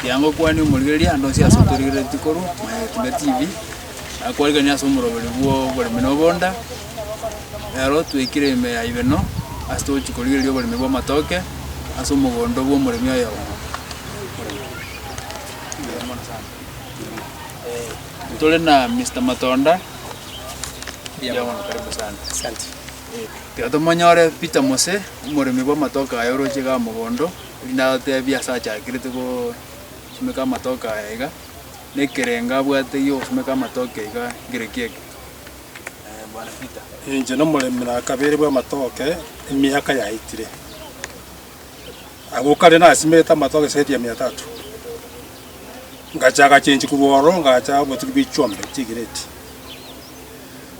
Kianga okwane omorigereria ande onsi ase otorigereretie korwa Mayatina TV, akwariganie ase omoroberi bw'oboremi na obonda. Ero twekire ime ya ibeno ase togochia korigereria oboremi bw'amatoke ase omogondo bw'omoremi oyomo. Tore na Mister Matonda, mbuya mono karibu sana. Ekero tomonyore Peter Mose, omoremi bw'amatoke aya oroche iga mogondo, erinde atotebie ase achakerete gosimeka amatoke aya iga, na ekerengo abwate gi'ogosimeka amatoke iga nkere ki eke? Eh, bwana Peter. Inche nomoremi na kabere bw'amatoke emiaka yaetire. Agwo kare nasimete amatoke zaidi ya mia tatu. Ngacha agachenchigwa oro ngacha obotugi bwa chiombe, chigreti.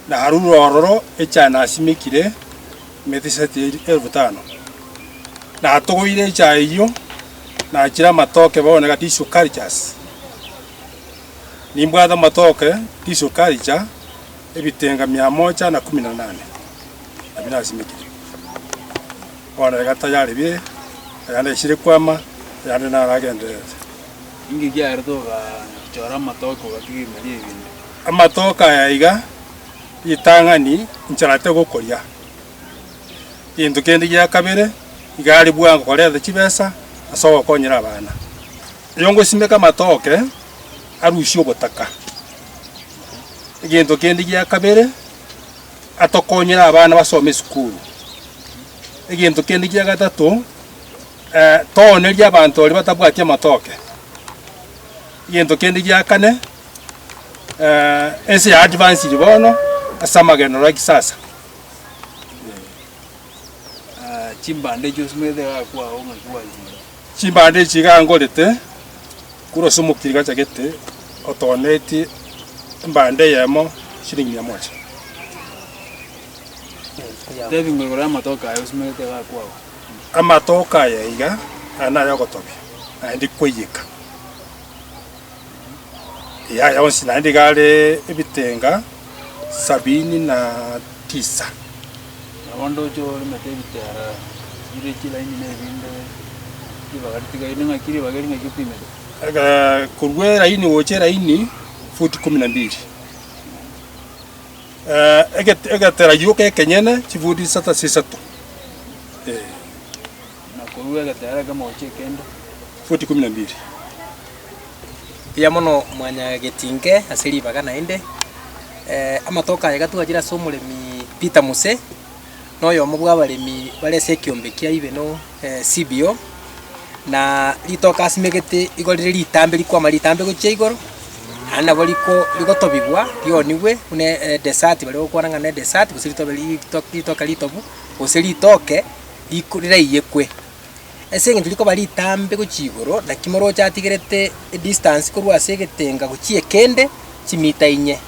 narure ororo echae nasimekire emetiseti elfu tano. Natogoire echae eyio, nachire amatoke bono iga tisukari chase. Nimbwate amatoke tisukari cha ebitenga mia moja na kumi na nane, nabio nasimekire. Bono iga tayari bire, ayande aisire kwama, ayande naragendererete. Inki ekiarete ogachora amatoke ogatiga emeeri ebinto? Amatoke aya iga, ritang'ani incharete gokoria. Gento kende gia kabere, iga are bwango koreta chibesa ase ogokonyera abana. Oyongosimeka amatoke, arusie obotaka. Egento kende gia kabere, atokonyere abana basome esukuru. Egento kende gia gatato, toonerie abanto baria batabwati amatoke. Egento kende gia kane. eh, ense ya advanced bono ase amagenderero a kisasa. Ah, chimbande echio simanyete gakwao ng'aki gwanchire. Chimbande echi iga ngorete, kura ase omokiri gachagete otonetie embande eyemo shilingi mia moja. Tebi ng'a igoro y'amatoke aye osimanyete gakwao. Amatoke aya iga, aya nare ogotobia, naende kwaiyeka. Yaya onsi naende iga are ebitenga sabini na tisa. Nabo ndoche oremete ebitera bire chilaini na ebinde ribaga ritigaine ng'aki ribaga eri ng'aki opimete? Aka- Korwa eraini gocha eraini, futi kumi na mbiri. Eh, egete- egetera gioka ekenyene chifuti isata sa isato, eh. na korua egetera ekemo gochia ekende. Futi ikomi na mbiri. Mbuya mono mwanyagetinke ase ribaga naende. Amatuko aya iga twachire ase omoremi Peter Muse, na oyomo bw'abaremi bare ase ekiombe kia Ibeno CBO, na ritoke asimegete igo rire ritambe rikwama ritambe gochia igoro, naende nabo riko rigotobigwa rionigwe buna edesati baria bagokwana ng'a nedesati gose ritobe ritoke ritobu gose ritoke. riku- riraiyekwe, ase engencho rikoba ritambe gochia igoro, naki moroche atigerete edistance korwa ase egetenga gochia ekende, chimita inye,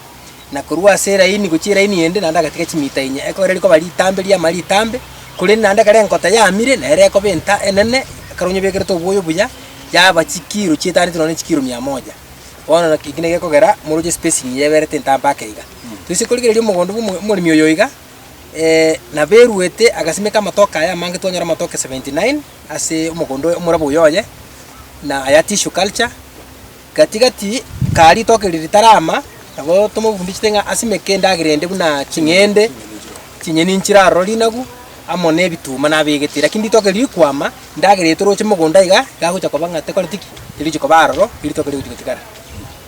na korwa ase eraini gochia eraini ende naende agatiga chimita inye. Ekero rikoba ritambe riamara ritambe, korende naende ekero enkota yamire, nere ekoba enta enene, ekero onye obekerete oboyo buya, yaba chikiro chietaniete nonya na chikiro mia moja. Bono naki eki naki gekogera moroche espacing yaberete entambe ake iga. Toise korigereria omogondo bwa omo- omoremi oyo iga. naberuete agasimeka amatoke aya amange twanyora amatoke 79 ase omogondo oye omorabwo oyo oye, na aya tissue culture. Gati gati kaa ritoke riria ritarama nabo tomofundichete ng'a asimeke endagera ende buna ching'ende, chinyeni nchire aroro rinagu, amo na ebituma nabegete. Lakini ritoke riria rikwama, endagera eye toroche mogondo iga, iga agocha koba ng'a tekoreti ki? Terigochi koba aroro, eritoke rigochi gotigara.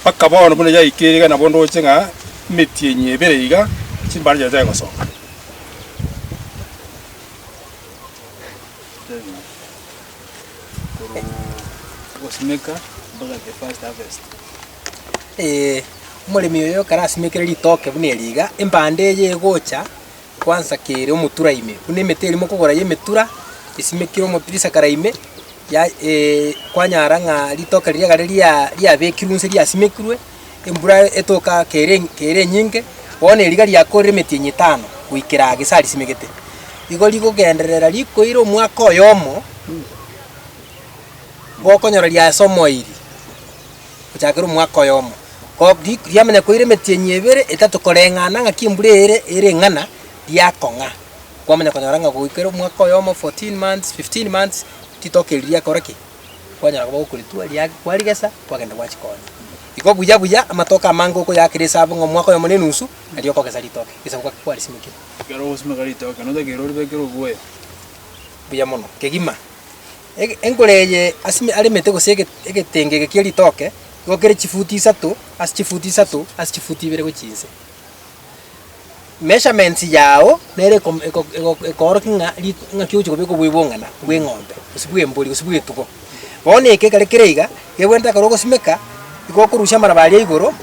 mpaka bono buna yaikire iga nabo ndoche ng'a emetienyi ebere iga chimbare chiaye chiaye gosoka. Omoremi oyo ekero asimekire ritoke buna eri iga, embanda eye egocha Kwansakeire omotura ime, buna emete eria mokogora y'emetura esimekire omotirisa kare ime, ya- e- kwanyara ng'a ritoka riria egare ria- riabekirwe nse riasimekirwe, embura etoka kere en- kere enyinge, bono eriga riakoorire emetienyi etano goikera gese aa risimegete. Igo rigogenderera rikoire omwaka oyomo, gokonyora riasomoiri. gochakera omwaka oyomo. Goika riamanya koira emetienyi ebere, etato koreng'ana ng'aki embura ere ere eng'ana, riakong'a. Kwamanya konyora ng'a goikera omwaka oyomo, fourteen months, fifteen months, ritoke eri riakora ki? Kwanyara koba gokoritwa, ria kwarigesa, kwagenda gwachi konya. Igo buya buya amatoke amange okoyakera esabu ng'a omwaka oyomo na enusu, nario okogesa ritoke, egesabu gaki kwarisimekire. Ekero ogosimeka ritoke, notakeire oribekere obwoya. Buya mono. Kegima. Enkoro eye aremete gose egetenge eke kie ritoke igokire chifuti isato ase chifuti isato ase chifuti ibere gochia inse. Measurements yao nere ekoorokia ng'a ng'aki ogochia kobeka obwebong'ina bw'eng'ombe gose bw'embori gose bw'etugo. Bono eke ekero kere iga, ekegwenta ekero ogosimeka, igo okorusia amaraba aria igoro.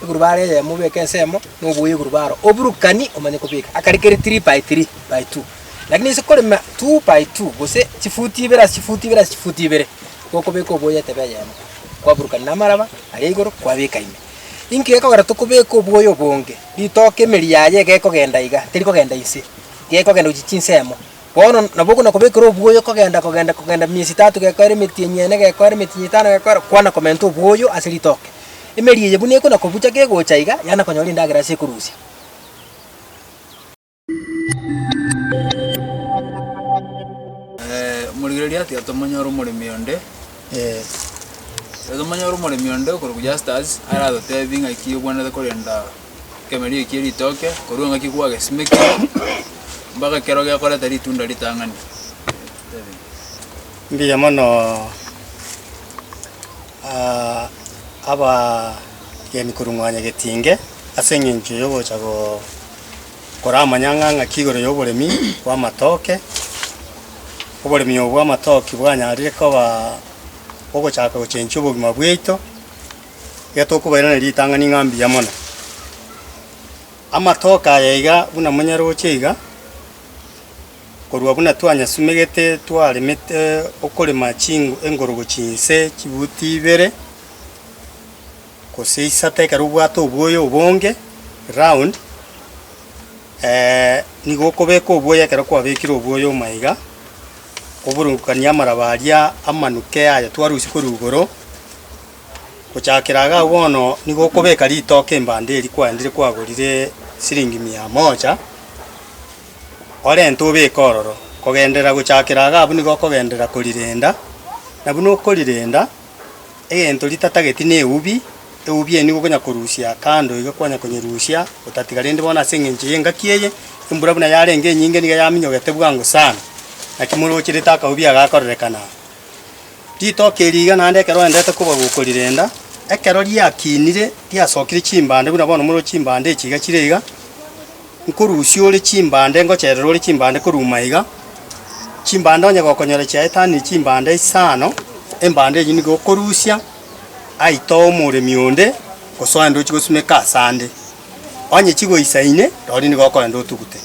Iguru baara eyemo obeke ensemo, na oboye iguru baaro oburukani omanye kobeka akare kere three by three by two. Lakini ase korema two by two gose chifuti ibere ase chifuti ibere ase chifuti ibere, nigo okobeka oboye etebe eyemo, kwaburukania namaraba aria igoro kwabeka ime. Inki gekogera tokobeka oboye obonge? Ritoke emeri yaye iga ekogenda iga, terikogenda inse, iga ekogenda gochia chinsemo. Bono nabo okona kobekera obwoyo kogenda kogenda kogenda miezi etato gekoera emetienyi eye ene gekoera emetienyi eye etano gekoera kwana komenta obwoyo ase ritoke. Emeri eye buna ekona kobucha kegocha iga yana konyora endagera ase ekorusia. Omorigereria atiga tomonyore omoremi onde tomonyore omoremi onde okorokwa Justus aratotebie ng'aki obwenerete korenda. ekeemerero ekie ritoke korwa engaki gwagesimekire mpaka ekero gekoreta ritunda ritang'ani. Mbuya mono ah, abageni korwa mwa Nyagetinge ase eng'encho yogocha go- koramanya ng'a ng'aki igoro y'oboremi bw'amatoke. Oboremi obo bw'amatoke bwanyarire koba ogochaka gochenchia obogima bwaito. iga tokobairaneria ritang'ani ng'a mbuya mono. Amatoke aya iga buna monyaroche iga, korwa buna twanyasumegete twaremete okorema chingo engorogo chinse chibuti ibere gose isato ekero obwate oboyo obonge round, nigo okobeka oboyo ekero kwabekire oboyo omo iga, oburungukanie amaraba aria amanuke aya twarusia korwa igoro. Gochakera iga bono nigo okobeka ritoke embanda eria kwaendire kwagorire siringi mia moja, orente obeke ororo. Kogenderera gochakera iga abwo nigo okogenderera korirenda, na buna okorirenda, egento ritatageti na eubi, eubi eye nigo okonya korusia kando iga kwanya konyerusia otatiga. Rende bono ase eng'encho y'engaki eye, embura buna yarenge enyinge niga yaminyogete bwango sana, naki morocherete akaubi aka gakorerekana. Ritoki eri iga naende ekero oendete koba gokorirenda, ekero riakinire riasokire chimbande buna bono more chimbande echi iga chire iga, nkorusia ore chimbande ngocherere ore chimbande koruma iga, chimbande onye gokonyora chiaetanire chimbande isano, embande enyio nigo okorusia aye itoe omoremi onde gose oende ochie gosimeka asande. Onye chigoisaine, rirorio nigo okoenda otugute.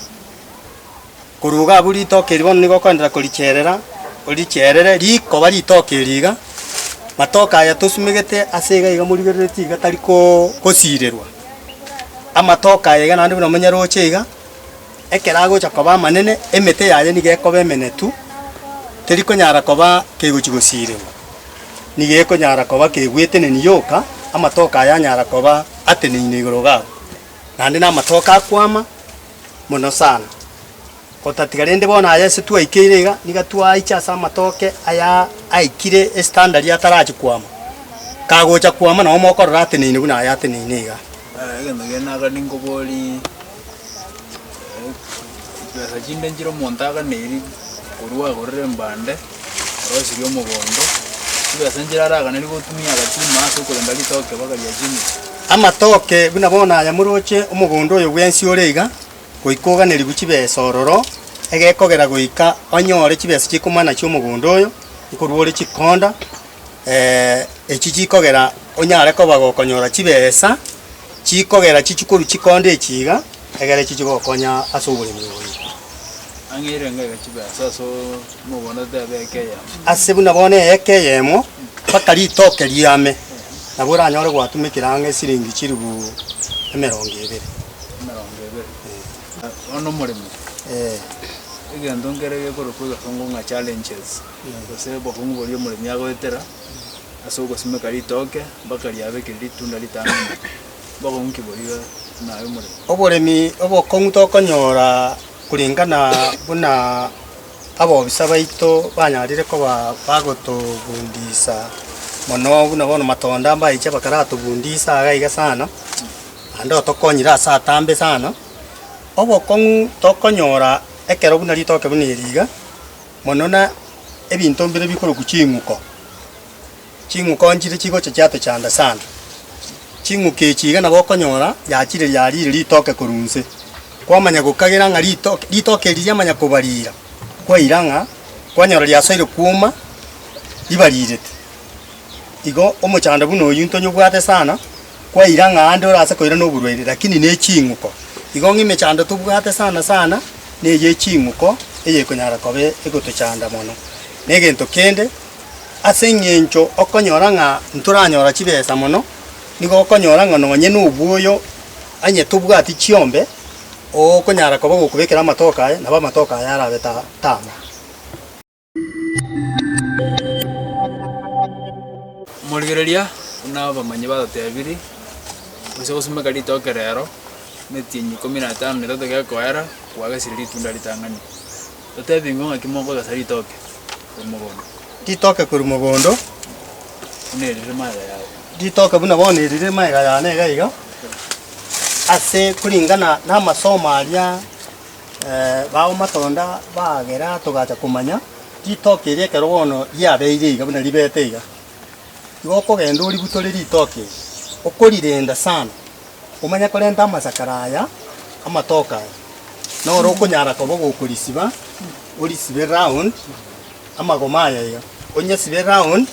Korwa igo abwo ritoke eri bono nigo okoenderera koricherera, oricherere rikoba ritoke eri iga, matoke aya tosumegete ase iga iga morigerereti iga tari ko kosirerwa. Amatoke aya iga naende buna omonyaroche iga, ekero agocha koba amanene, emete yaye niga ekoba emenetu, teri konyara koba kegochi gosirerwa, niga ekonyara koba kegweteneni yoka, amatoke aya anyara koba ateneine igoro iga abwo, naende na amatoke akwama. mono sana, otatiga rende bono aya ase twaikeire iga, niga twaiche ase amatoke aya aikire estandari atarachi kwama, kagocha kwama nabo mokorora ateneine buna aya ateneine iga. Aya egento kiane aka ninkoborie, chibesa chinde nchire omonto aganeirie korwa agorere mbande. Orosi ri'omogondo, taibo ase enchera araganeri gotumia agachuma ase okorenda ritoke mpaka riachimire. Amatoke buna bono aya moroche omogondo oyo bwensi ore iga, goika oganerigwe chibesa ororo, egekogera goika onyoore chibesa chi'ekomana chi'omogondo oyo, nikorwa ore chikonda. echi chikogera onyare koba gokonyora chibesa, chikogera chichikoru chikonde echi iga, egere echi chigokonya ase oboremi oye. Ang'eire enga iga chibesa ase omoganda otebe eke eyemo. Ase buna bono eeka eyemo, mpaka ritoke riame, nabo oranyore gwatumekire ang'e siringi chilifu emerongo ebere. Emerongo ebere. Bono omoremi, egento nkere gekorokwa iga songo ng'a challenges. na gose obokong'u boria omoremi agoetera ase ogosimeka ritooke mpaka riabe keri ritunda ritano omwaka, obokong'u ki boria naye omoremi? Oboremi obokong'u tokonyora korengana buna abobisa baito banyarire koba bagotobundisa mono buna bono matonda mbaeche bakaratobundisa iga iga sana, naende otokonyire ase atambe sana. Obokong'u tokonyora ekero buna ritoke buna eri iga, mono na ebinto mbire bikorokwa ching'uko. Ching'uko nchire chigocha chiatochanda sana. Ching'uko echi iga nabo okonyora yachire yariire ritoke korwa inse. Kwamanya gokagera ng'a ritoke ritoke eri riamanya kobarira, kwaira ng'a kwanyora riasoire kwoma ribarirete. Igo omochando buna oyio ntonyobwate sana. kwaira ng'a aande ore ase koira noborwaire, lakini neching'uko. Igo ng'a emechando tobwate sana sana neye eching'uko eyekonyara koba egotochanda mono. Negento kende, ase eng'encho okonyora ng'a ntoranyora chibesa mono, nigo okonyora ng'a nonye nobwoyo onye tobwati chiombe, okonyara koba ogokobekera amatoke aye, nabo amatoke aye arabe ta tama. Omorigereria buna abamanyi batotebirie, onsi ogosimeka ritoke rero, emetienyi ikomi na etano na etato gekoera, kwagesire ritunda ritang'ani. Totebi ng'o ng'aki mokogesa ritoke korwa mogondo? Ritoke korwa mogondo. Buna eri rire magega yao. Ritoke buna bono eri rire magega yane iga iga, ase koringana namasomo aria Bagomatonda bagera togacha komanya ritoki erio ekero bono riabeire iga buna ribete iga. Igo okogenda oributore ritoki erio, okorirenda sana omanye korenta amasakara aya amatoke aya, noro okonyara koba ogokorisiba, orisibe round amagoma aya iga, onyesibe round,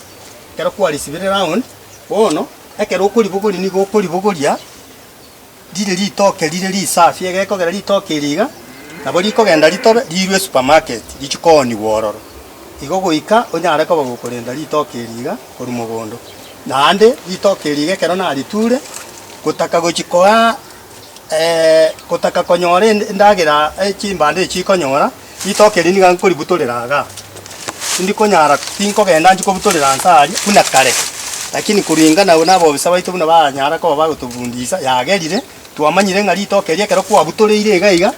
ekero kwarisibire round, bono ekero okoribogoria nigo okoribogoria Rire ritoke rire risafi, egekogera ritoke eri iga, nabo rikogenda ritobe, riirwe esupermarket, richie koonigwa ororo. Igo goika onyare koba gokorenda ritoke eri iga korwa mogondo. Naende ritoke eri iga ekero nariture, gotaka gochia koa gotaka konyora endagera chimbando echi ikonyora. Ritoke eri niga nkoributorera iga, tindikonyara, tinkogenda nchie kobutorera nse aria buna kare, lakini koringana nabobisa baito buna baranyara koba bagotobundisa, yagerire, twamanyire ng'a ritoke eri ekero kwabutoreire iga iga,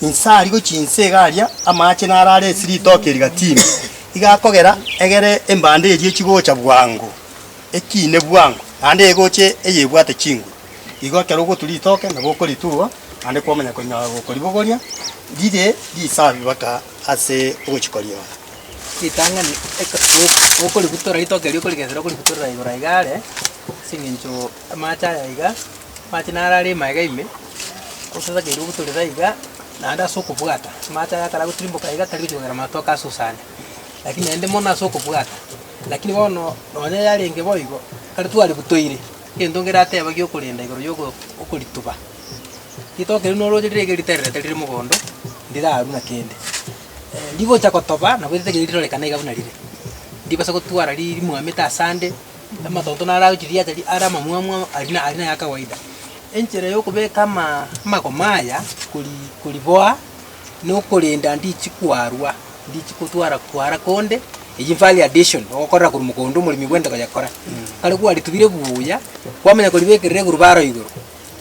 inse aria gochia inse iga aria amache naro are ase ritoke eri gatino, iga akogera egere embande eria echi gocha bwango, ekiine bwango, naende egoche eyebwate chinguru. Igo ekero ogotwa ritoke nabo okoritugwa, naende kwamanya konyora gokoribogoria rire risabi baka ase ogochiko riao. Ritang'ani eke o- okoributora ritoke erio okorigesera okoributorera igoro aiga are, ase eng'encho amache aya iga, amache naro are ime aiga ime, gose takeire obutorere aiga, naende ase okobwata, amache aya ekero agotirimboka iga tari gochia kogera matoke asusane, lakini naende mono ase okobwata. Lakini bono nonye yarenge boigo, ekero twaributoire. Egento ngeratebage okorenda igoro y'okorituba, ritoke riu norooche riria riga ritererete rire mogondo, ndirarwu na kende. Rigocha gotoba nabo ritaiga rirorekana iga buna rire, ndibasa gotwara ri- rimwamete ase ande, amatonto naro agochia riacha ri are amamwamu amo aria na aria naya kawaida. Enchera yokobeka amaa amagoma aya kori koriboa, nokorenda ndichi kwarwa. Ndichi kotwara kwara konde, eyio value addition, ogokorera korwa mogondo omoremi bw'ente koyekora. Kare kwaritubire buya, kwamanya koribekerera egurubaro igoro,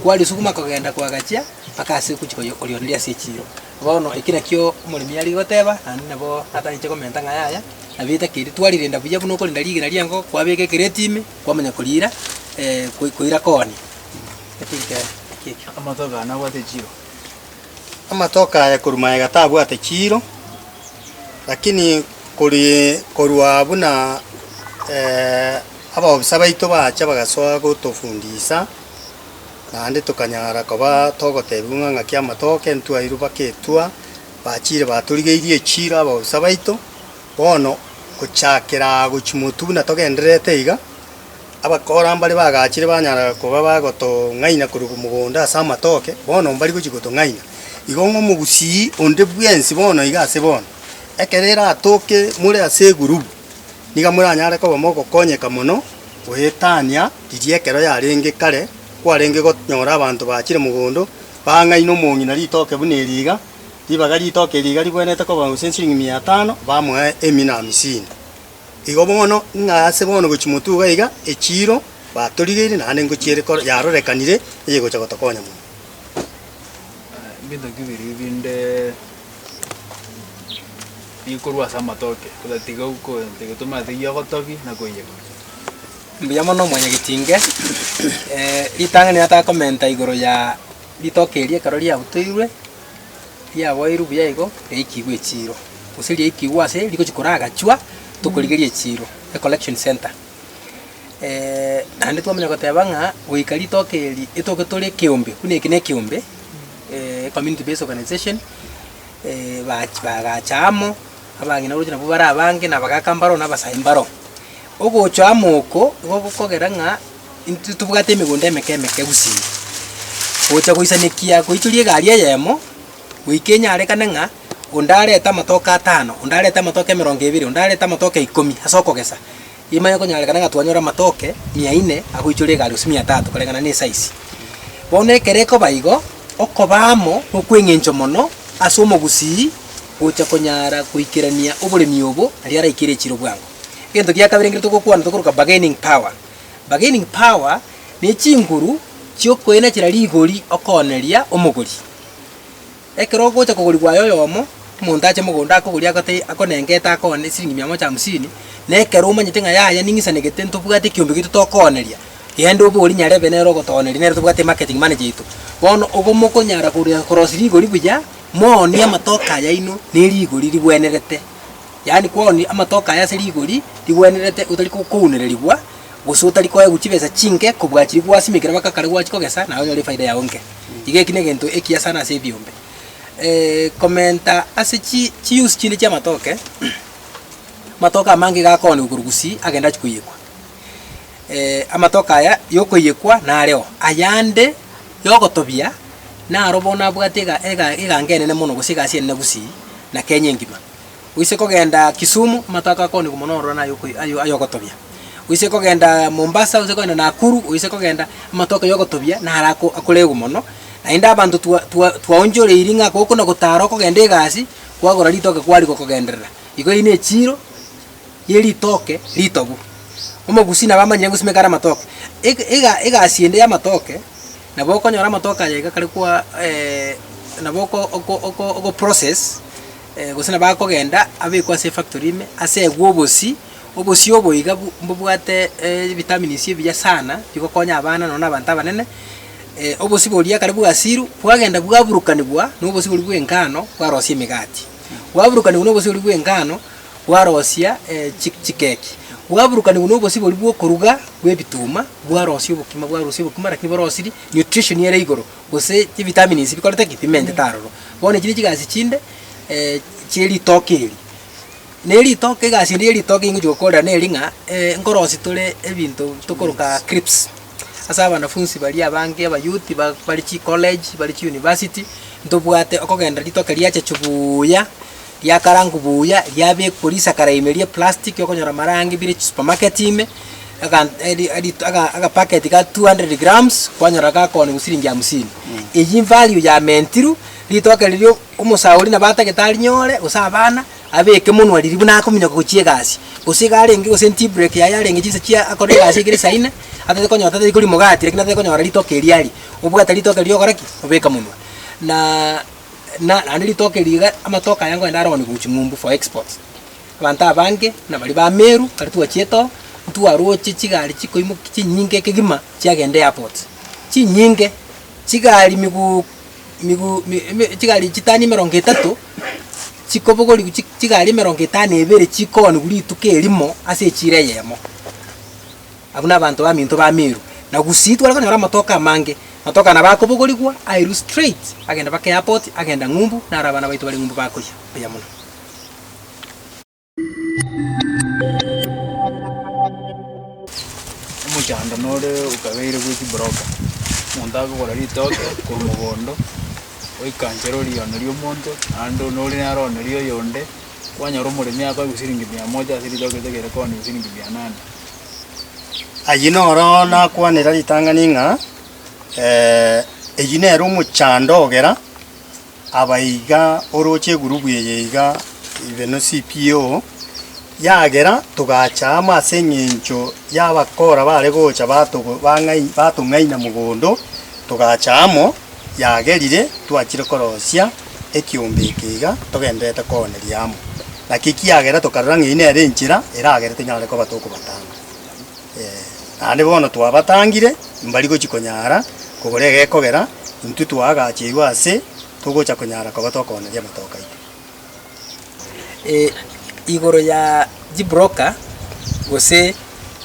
kwarisuguma kogenda kwagachia mpaka ase ogochi koyo korioreria ase echiro. Bono eki nakio omoremi are goteba, naende nabo atagete komenta ng'a yaya, nabo etakeri twarirenda buya buna okorenda rigena ri'enkoko, kwabeka ekereti ime, kwamanya koriira koira kooni. Naki ekero, naki ekio. Amatuko aya nabwate echiro. Amatoke aye korwa magega tabwate chiiro, lakini kori korwa buna abaobosa baito bacha bagasoa gotofundisa, naende tokanyara koba togotebiwa ng'a ng'aki amatoke ntwairwe baka etua, bachire batorigeirie echiiro abaobosa baito. Bono gochakera gochia motwe buna togendererete iga. Abakora mbare bagachire banyara koba bagotong'aina korwa mogondo ase amatoke, bono mbari gochia gotong'aina. Igo ng'a omogusii onde bwensi bono iga ase bono, ekero eratoke more ase egurubu, niga moranyare koba mogokonyeka mono goetania riria ekero yarenge kare, kwarenge gonyora abanto bachire mogondo, bang'aina omong'ina ritoke buna eri iga, ribaga ritoke eri iga rigwenerete koba gose nsirigi mia tano, bamoe emina amisini. Igo bono, ng'a ase bono gochia motuga iga, echiiro batorigeire naende ngochia ere yarorekanire eyegocha gotokonya mono. Ebinto bibiri binde bikorwa ase amatoke, otatiga togetoma teyia ogotobi na koiyegora. Mbuya mono mwanyagetinge, ritang'ani natakomenta igoro ya ritoke eria ekero riabutoirwe. riaboirwe buya igo riaikigwe echiiro, gose riaikigwe ase rigochia koragachwa tokorigeria echiiro, ecollection centre. Naende twamanya goteba ng'a goika ritoke eri etoke tore ekeombe, buna eke nekeombe ecommunity based organization bach bagacha amo, abang'ina oroche nabwo bare abange, na abagaka mbaro, na abasae mbaro. Ogocha amo oko igo gokogera ng'a. Intwe tobwate emegondo emeke emeke gusii, gocha goisanekia goichoria egari eyemo, goika enyarekane ng'a onde arete amatoke atano, onde arete amatoke emerongo ebere, onde arete amatoke ikomi ase okogesa, emanye konyarekana ng'a twanyore amatoke mia ine agoichoria egari gose mia tatu koreng'ana ne esize. Bono ekero ekoba igo, okoba amo nokweng'encho mono ase omogusii gocha konyara goikerania oboremi obo, aria araikere echiro bwango. Egento gia kabere ekero togokwana tokoroka bargaining power. Bargaining power ne chinguru chi'okoina chire rigori okooneria omogori. Ekero ogocha kogori bwaye oyomo, omonto ache mogondo akogorie agote akonenga ete akoone esiringi mia moja hamsini, na ekero omanyete ng'a yaya ning'isanegete ntobwate ekiombe gito tokooneria, genda obori nyarebe nere ogotooneria nere tobwate marketing manager yaito. Bono obo mokonyara korosia rigori buya, moonie amatoke ayaino ne rigori rigwenerete. yaani kwonia amatoke aya ase rigori rigwenerete otari kounererigwa, gose otari koegwa chibesa chinke kobua chiria gwasimekire mpaka kare gwachi kogesa, naye onyore efaida yao enke. Iga eki negento ekiya sana ase ebiombe. komenta ase chi chiuse chinde chiamatoke, amatoke amange iga akoonigwa korwa gusii agende achie koiyekwa. amatoke aya yokoiyekwa nareo, ayande yogotobia naro bono abwate ega ega eganga enene mono gose egasi enene gusii na Kenya engima. Oise kogenda Kisumu, amato ako akoonigwa mono ororo naye oko ayo ay'ogotobia. Oise kogenda Mombasa, oise kogenda Nakuru, oise kogenda amato ako y'ogotobia naro ako akoregwa mono. Naende abanto twa twa twaonchoreiri ng'a gokona gotara okogenda egasi, kwagora ritoke kwarigia okogenderera. Igo eyio nechiiro ye ritoke ritobu. Omogusii nabo amanyire ng'o simeka are amatoke. Eg ega egasi ende y'amatoke, nabo okonyora amatoke aya iga kare kwa nabo oko oko oko ogo process. Gose nabo akogenda abekwe ase efactory ime, asegwe obosii, obosii obo iga bu mbobwate ebitamins ebiya sana bigokonya abana nonya na abanto abanene, obosii boria ekare bwasiru bwagenda bwaburukanigwa na obosii boria bwa engano bwarosia emegati, bwaburukanigwa na obosii boria bwa engano bwarosia chi chikeki, bwaburukanigwa na obosii boria bwa okoruga bwa ebituma bwarosia obokima bwarusia obokima lakini borosirie nutrition ere igoro. Gose chivitamins bikorete ki? Bimentete aroro. Bono echi nechigasi chinde chieritoke eri. Na eritoke egasi ende yeritoke ingochi gokorera neri ng'a nkorosi tore ebinto tokoroka crips, ase abanafunsi baria abange abayouth ba bare chicollege, bare chiuniversity, ntobwate okogenda ritoke riacha chubuuya. riakarangwa buya, riabekwa risakara ime ria eplastic okonyora amarangi bire chisupermarket ime, egan eri erito ega agapacket ga two hundred grams kwanyora gakooniwa siringi hamsini. Eyio invalue yamentirwe, ritoke riria omosauri nabo atagete arinyore gose abana, abeke monwa riria buna akominyoka gochia egasi. Gose iga arenge gose tea break yaye arenge chinsa chia akore egasi ekere saa ine, atete konyora tari koria omogati lakini atete konyora ritoke eria aria, obwate ritoke riria ogora ki? Obeka monwa. Naaaa. na naende ritoke eri iga amatoke aya ngoende aroni gochia ng'umbu for exports. Abanto abange na baria ba Meru ekero twachiete oo, ntwaroche chigari chikoimoki chinyinge kegima chiagenda airport, chinyinge, chigari miguu miguu mi eme chigari chitani emerongo etato, chikobogorigwa chi chigari emerongo etano na ibere chikooniwa rituko erimo ase echiro eyemo. Abwo nabanto baminto ba Meru. Na gusii tware konyora amatoke amange. Amatoke aya nabo akobogorigwa airwe straight agenda baka airport agenda ng'umbu naro abana baito bare ng'umbu bakoyia buya muno. Omochando nore okabeire bwe chibroka. Omonto akogora ritoke korwa mogondo, oikanchere oriono riomonto naende one ore naro one rioyonde. kwanyora omoremi akoe gosiringi mia moja ase ritoke rinde kere koni gosiringi mia nane. Ayio noro nakwanera ritang'ani ng'a eyio nere omochando ogera aba iga oroche egurubu eye iga ibe ne CPO, yagera togacha amo ase eng'encho y'abakora bare gocha batogo bang'ai batong'aina mogondo togacha amo. yagerire twachire korosia ekiombe eke iga togendererete kooneria amo. Naki ekiagera tokarora ng'a eyio nere enchera eragere tonyare koba tokobatanga. Ee, naende bono twabatangire, mbari gochia konyara kogora egekogera, intwe twaagacherwa ase togocha konyara koba tokooneria amatoka aito. igoro ya chibroker gose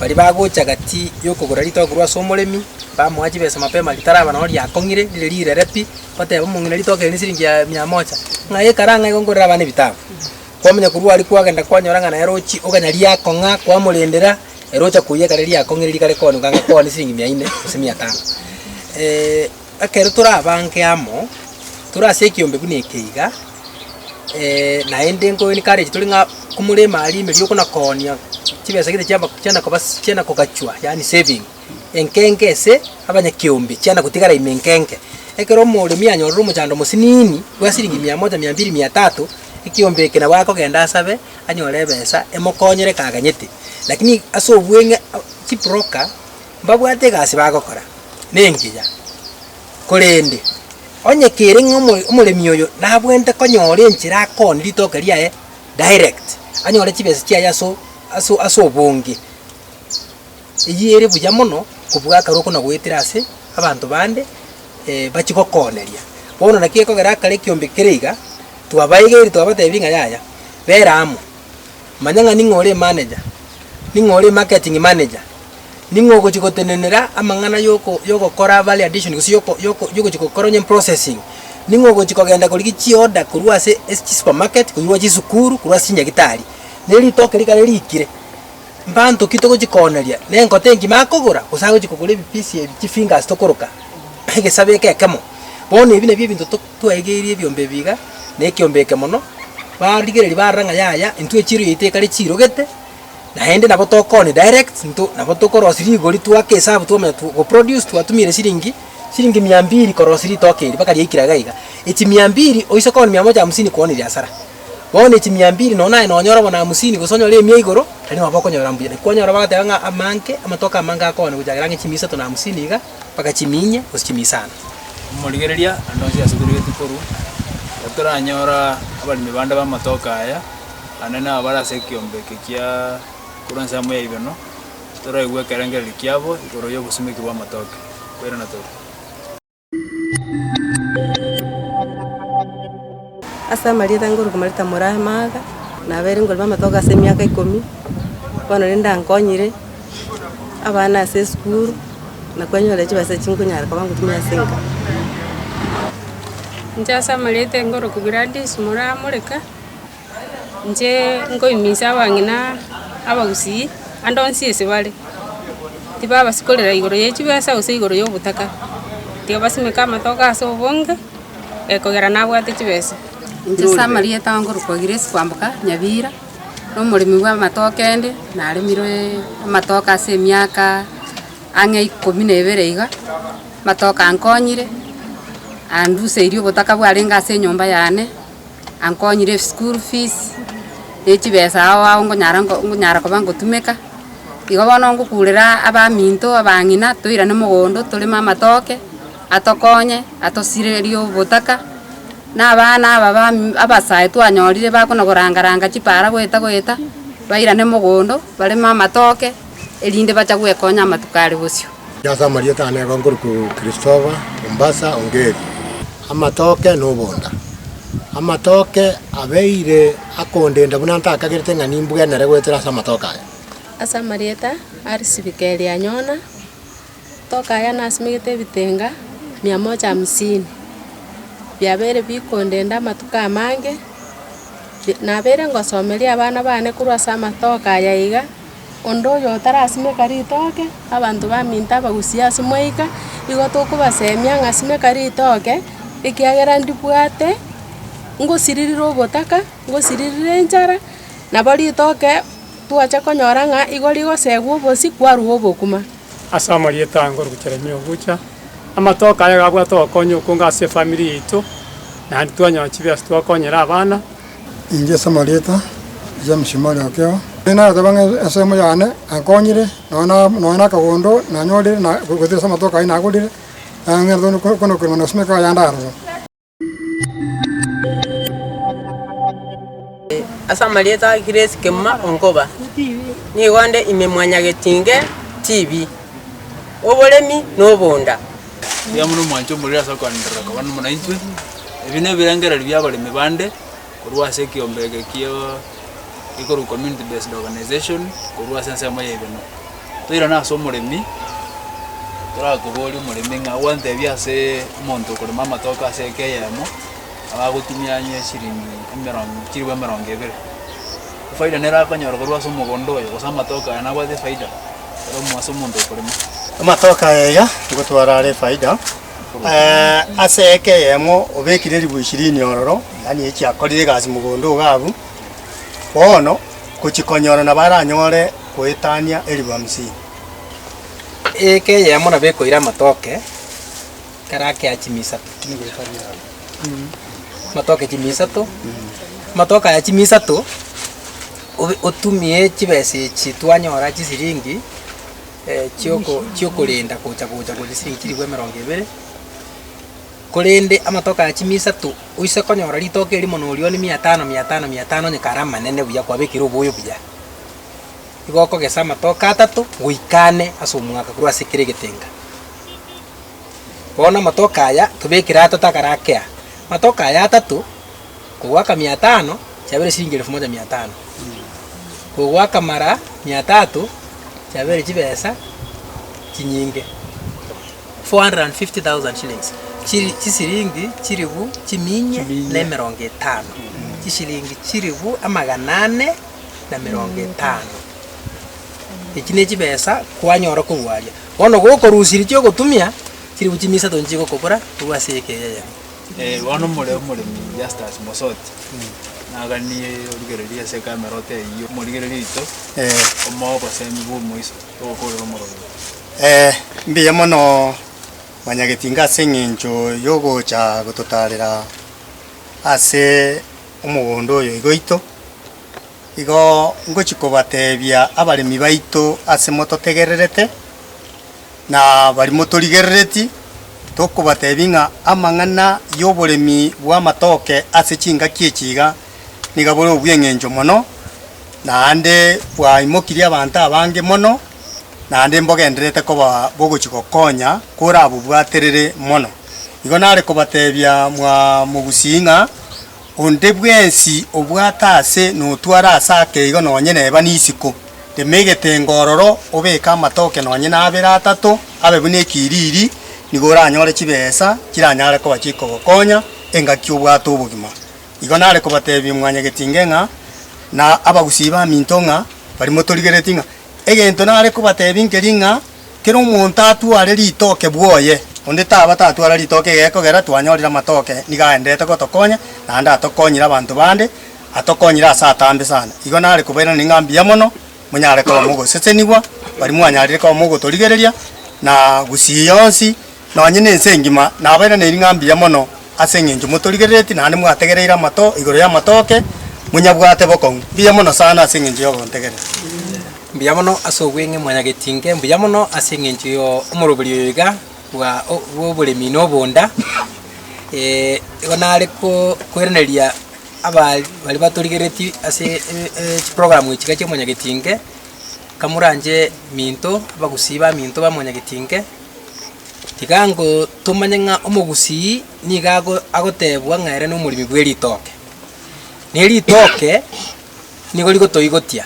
baria bagocha gati yokogora ritogo korwa ase omoremi, bamoa chibesa mapema ritaraba noro riakong'ire rire rirere pi, bateba omong'ina ritogo eri nesiringi ya mia moja, ng'ai ekara ng'ai igo ngorere abana ebitabu. Kwamanya korwa aria kwagenda kwanyora ng'a naye rochi iga nari riakong'a, kwamorendera, ere ocha koiyia ekare riakong'ire rikare kooneka ng'a koonie siringi mia ine gose mia tano. Ekero torabange amo tore ase ekeombe buna eke iga, naende nkoencourage tore ng'a komorema aria emerio okonakonia chibesa gete chiabo chiana koba chiana kogachwa yaani saving, enkenge ase abanyakeombe chiana gotigara ime enkenge. Ekero omoremia anyorire omochando mosiniini bwa siringi mia moja, mia mbiri, mia tatu, ekeombe eke nabo agokenda asabe anyore ebesa emokonyere ekaganyete. Lakini ase obweng'e chibroka. Mbabwate egasi bagokora, nengiya. Korende onye kere ng'a omo omoremi oyo nabwenerete konyora enchera akooni ritoke riaye direct, anyore chibesa chiaye aso aso ase obonge, eyio ere buya mono kobua akare oko nagoetera ase abanto bande bachie gokooneria. Bono naki gekogera akare ekiombe kere iga, twabaegeiri twabatebirie ng'a yaya, bera amo. Manya ng'a ning'o ore emeneja, ning'o ore emarketing manager, ning'o ogochia gotenenera amang'ana y'oko y'ogokora value addition gose y'oko y'oko y'ogochia gokora onye processing, ning'o ogochia kogenda korigia chioda korwa ase ase chisupermarket, korwa chisukuru, korwa ase chinyagitari. Ne ritoke rikare riikire, mbanto ki togochia kooneria? Nenkota engima akogora gose agochia kogora ebipisi ebi chifingers tokoroka egesabe eke ekemo? Bono ebi nabio ebinto to. Twaigeirie ebiombe ebi iga, na ekiombe eke mono, barigereria barora ng'a yaya, intwe echiiro yaito ekare chiirogete, naende nabo tokoni direct into nabo tokorosi rigori twake esabu twamanya tu goproduce twatumire siringi siringi mia mbiri korosi ritoke eri baka riaikire iga iga. Echi mia mbiri oise koni mia moja hamsini koni riasara. Bono echi mia mbiri nonye naye nonyore bono hamsini gose onyore emia igoro, tari nabo okonyora mbuya. Naki kwanyora bagateba ng'a amanke, amatuko amange akogana gochakera ang'e chimia isato na hamsini iga. bagachimiinyia gochimiia sana. Omorigereria naende onsi asubirigeti korwa, ekero toranyora abaremi bande b'amatoke aya, naende nabo bare ase ekeombe eke kia korwa nse amo yaigana, toraigue ekerengererio kiabo igoro y'obosumeki bw'amatoke, koirana tore. Ase amarieta ngoruka marieta Muraimaaga, nabeire ngorema amatoke ase emiaka ikomi, bono rende ankonyire. abana ase esukuru, na kwanyora chibesa echio nkonyara koba ngotumia ase enka. Inche ase amarieta aye nkorokwa Gladys Moramoreka, inche nkoiminsa abang'ina abagusii ande onsi ase bare, tibabasikorera igoro ye chibesa gose igoro ya obotaka, tiga basimeka amatoke ase obonge, ekogera nabwate chibesa. Inche ase amarieta aye nkorokwa Grace Kwamboka Nyabira. nomoremi bw'amatoke ende, naremire amatoke ase emiaka ang'e ikomi na ebere iga, amatoke ankonyire, anduseirie obotaka bwarenge ase enyomba yane, ankonyire school fees, ne chibesa ao ao ngonyara nko ngonyara koba ngotumeka, igo bono ngokurera abaminto, abang'ina, toirane mogondo toreme amatoke, atokonye, atosirerie obotaka. Na abana aba abasae twanyorire bakona goranga-ranga chipaara goeta-goeta, bairane mogondo, bareme amatoke, erinde bacha gwekonya amatuko are bosio. Ase amarieta aane igo nkorokwa Christopher, Mombasa, Ongeri. Amatoke na obonda. Amatoke abeire akondenda buna ntakagerete ng'a nimbwenere goetera ase amatoke aya. Ase amarieta a risirika eri anyona. Tokaya nasimegete ebitenga mia moja hamsini, biabeire bikondenda amatuko amange, nabeire ngosomeria abana bane korwa ase amatoke aya iga, onde oyo otarasimeka ritoke, abanto baminto abagusie ase mwaika, igo tokobasemia ng'a simeka ritoke, ekiagera ndibwate ngosiririre ogotaka, ngosiririre enchara, nabo ritoke twacha konyora ng'a igo rigosegwa obosio kwarwa obokima. Ase amarieta ange Orogocherania ogocha, amatoke aya gabwate obokonyi okonge ase efamiri yaito, naende twanyora chibiasi twakonyere abana. Inche ase amarieta James Mori Okeo, narateba ng'a ensemo yane yankonyire nonya na akagondo nanyorire gose ase amatoke ayio nagorire, nang'entete konakorema na gosimeka yande aroro. Ase amarieta a Grace Kemuma Onkoba, nigo nde ime mwanyagetinge TV, oboremi na obonda. Tiga buna omwancha omoriri ase okoanderera koba nomo naintwe. Ebi nebirengererio bi'abaremi bande. Korwa ase ekiombe eke kia ekorwa Community Based Organization korwa ase ensemo ya Igena. Toirane ase omoremi, torakoborie omoremi ng'a gwantebie ase omonto okorema amatoke ase eke eyemo abe agotumia onye eshiringi emerongo chilifu emerongo ebere. Efaida nere akonyora korwa ase omogondo oyo gose amatoke aya nabwate efaida ero ase omonto okorema. Amatoke aya iga nigo twarare efaida. Ase eke eyemo obekire ribu ishirini ororo, yaani echi akorire egasi mogondo iga abwo, bono gochia konyora nabo aranyore goetania eribu hamsini. Eke eyemo nabo ekoira amatoke ekero akea chimi isato, amatoke chimi isato, amatoke aya chimi isato obe- otumie chibesa echi twanyora chisiringi. chi'okorenda gocha-gocha gocha siringi chilifu emerongo ebere, korende amatuko aya chimia isato oise konyora rituko erimo na orioni mia tano, mia tano, mia tano onye kare amanene buya kwabekire oboyo buya. Igo okogesa amatuko atato goika ane ase omwaka korwa ase kera egetenga. Bono amatuko aya tobekire atato akare akea, amatuko aya atato. kogoaka mia tano, chiabeire chiringi elfu moja mia tano, kogoaka mara mia tato, chiabeire chibesa chinyinge, 450,000 shillings, chiri chisiringi chilifu chiminyia Chiminyia. na emerongo etano, chisiringi chilifu amagana ane na emerongo etano. Echi nechibesa kwanyora korwa aria. Bono gokorusia eri chiogotumia, chilifu chimisato nichigokobora korwa ase eyekeyeyemo. Eh, bono more omoremi Justus Mosoti naganie origereria ase ekameroti eyio omorigereria oito Eh, omoa obosemi bw'omoiso togokorera omorombe. eh, mbuya mono Mwanyagetinga ase eng'encho yogocha gototarera ase omogondo oyo iga oito. Igo ngochi kobatebia abaremi baito ase mototegererete. na baria motorigerereti, tokobatebia ng'a amang'ana y'oboremi bw'amatoke ase chingaki echi iga niga bore obweng'encho mono, naende bwaimokirie abanto abange mono, naende mbogendererete koba bogochi gokonya korabobwaterere mono. Igo nare kobatebia mwa mogusii ng'a Onde bwensi obwate aase notware aase ake igo nonye neba nisiko. Rema egetenga ororo, obeke amatoke nonye nabere atato, abe buna ekiriri, nigo oranyore chibesa chiranyare koba chikogokonya engaki obwate obogima. Igo nare kobatebia mwanyagetinge ng'a, na abagusii baminto ng'a, baria motorigeretie ng'a, Egento nare kobatebia nkeri ng'a, Kera omonto atware ritoke bwoye, onde taba tatwara ritoke egekogera twanyorire amatoke nigo aenderete gotokonya, naende atokonyire abanto bande, atokonyire ase atambe sana. Igo nare kobairaneria ng'a mbuya mono monyare koba mogosesenigwa, baria mwanyarire koba mogotorigereria na gusii yonsi, Nonye nense engima nabaire ne ring'a mbuya mono ase engencho motorigerereti naende mwategereire amato igoro y'amatoke, monyabwate bokong'u mbuya mono sana ase engencho y'ogontegerera. Mbuya mono ase obweng'e mwanyagetinke mbuya mono ase engencho yo omorobori oyo iga bwa bw'oboremi na obonda, igo nare ko koiraneria aba baria batorigerereti ase chiprogramu echi iga chi'omonyagetinke, kamoranche minto abagusii ba minto ba omonyagetinke. Tiga ngo tomanye ng'a omogusii nigo ago agotebwa ng'a ere nomoremi bw'eritoke. Na eritoke nigo rigotoigotia,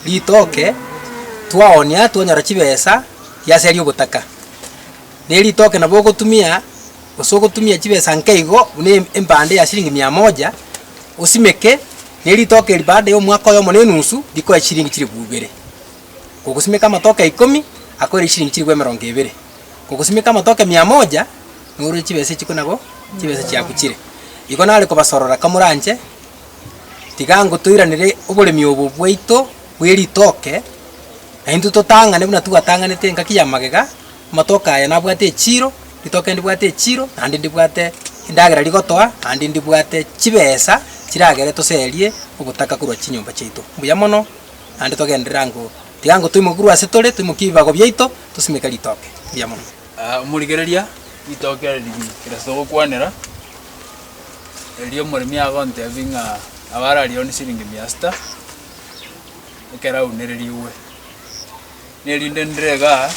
ritoke twaoonia twanyora chibesa riaseria ogotaka. Na eritoke nabo ogotumia gose ogotumia chibesa nke igo buna em empande ya siringi mia moja, osimeke, na eritoke eri baada ya omwaka oyomo na enusu, rikoe chiringi chilifu ibere. Kogosimeka amatoke ikomi akoire chiringi chilifu emerongo ebere, kogosimeka amatoke mia moja nourwe chibesa echikwe nabo chibesa chiaku chire. Igo nare kobasorora kamoranche, tiga ngo toiranere oboremi obo bwaito bwe ritoke, naintwe totang'ane buna twatang'anete engaki ya magega, amatoke aya nabwate echiro, ritoke ndibwate echiro, naende ndibwate endagera rigotoa, naende ndibwate chibesa chiragere toserie ogotaka korwa chinyomba chiaito. Mbuya mono. naende togenderere ango, tiga ango toimoke korwa ase tore, toimokie ebibago biaito, tosimeke ritoke ria monwe. Aa, omorigereria, ritoke ere rigiya, kerase togokwanera, erio omoremi agontebie ng'a abare aria one siringi mia sita, ekero aunererigwe. nerinde ndire iga,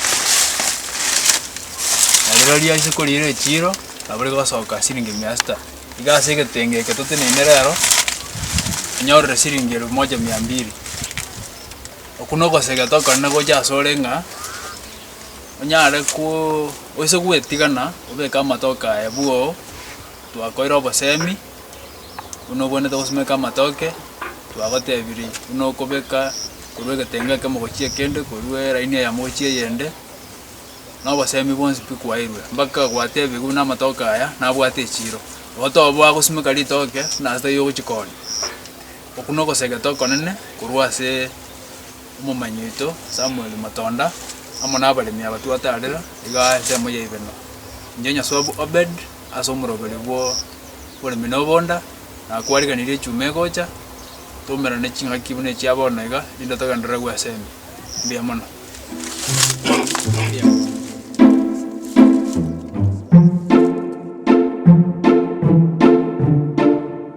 na rirorio ase koriira echiiro, nabo rigosoka siringi mia sita. Iga ase egetenge eke toteneine rero, inyorire siringi elfu moja mia mbili. Okwo na ogosegete okorende gocha ase ore ng'a, onyare koo oise gwetigana, obeke amatoke aye bwoo, twakoire obosemi. buna obwenerete gosimeka amatoke, twagotebirie buna okobeka korwa egetenga ekemo gochia ekende, korwa eraini eyemo gochia eyende, na obosemi bwonsi pi kwaeirwe, mpaka gwatebiwu buna amatoke aya nabwate echiro. Igo toboa gosimeka ritoke buna ase taiyo ogochia koonia. Okwo na ogosegete okonene korwa ase omomanyi oito Samuel Matonda, amo na abaremi aba twataarer igaa ensemo ya Ibeno. Inche Nyasuabu Obed. ase omoroberi bw'oboremi na obonda, na kwariganirie echuma egocha, twaumerane ching'aki buna echia bono iga, rinde togendererwe ase ime. Mbuya mono.